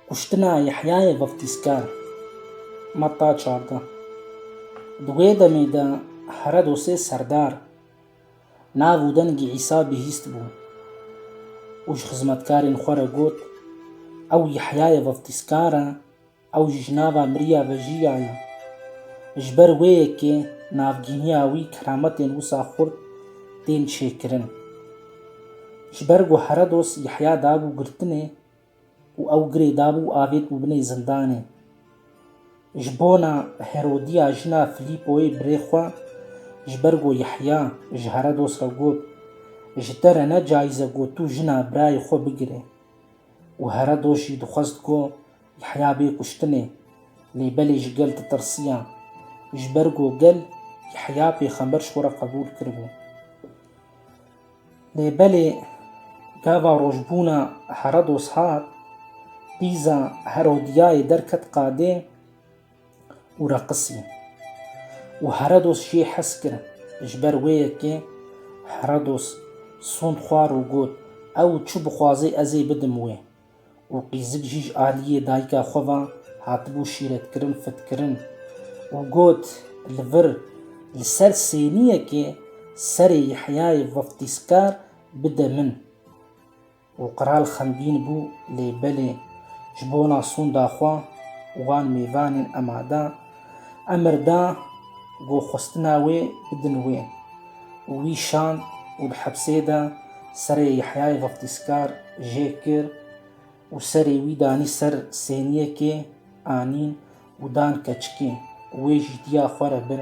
Kuştina Yehyayê Vaftîzkar, Metta çardeh. Di wê demê de here do sê serdar nav û dengê Îsa bihîst bû û ji xizmetkarên xwe re got, Ew Yehyayê Vaftîzkar e. Ew jî ji nava miriya vejiya ye. Ji ber wê yekê navgîniya wî kerametên wisa xurt tên çêkirin. Ji ber ku Herodos Yehya dabû girtinê û ew girê dabû û avêt bû binê zindanê. Ji bona Herodiya jina Filîpoyê birê xwe ji ber ku Yehya ji Herodos re got, Ji te re ne cayîz e ku tu jina birayê xwe bigirê. Û Herodos jî dixwest ku Yehya bê kuştinê, lê belê ji gel ditirsiya. Ji ber ku gel Yehya pêxember ji xwe re qebûl kiribû. Lê belê gava rojbûna Herodos hat, qîza Herodiyayê derket qadê û reqisî. Û Herodos jê hez kir, ji ber wê yekê Herodos sond xwar û got, Ew çi bixwaze ez ê bidim wê. û qîzik jî ji aliyê dayika xwe ve hatibû şîretkirin, fitkirin û got, Li vir li ser sêniyekê serê Yehyayê Vaftîzkar bide min. Û qral xemgîn bû, lê belê ji bona sûnda xwe û wan mêvanên Emada, Emir da ku xwestina wê bidin wê û wî şand û di hepsê de serê Yehyayê Veftîzkar jê kir û serê wî danî ser sêniyekê anîn û dan keçikê û wê jî diya xwe re bir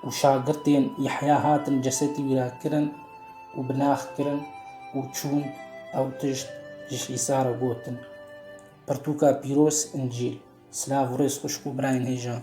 û şagirtên Yehya hatin cesetî wî re kirin û binax kirin û çûn ew tişt ji Îsa re gotin. Pirtûka pîroz, Încîl. Silav û rêz xwişk û birayên hêjan.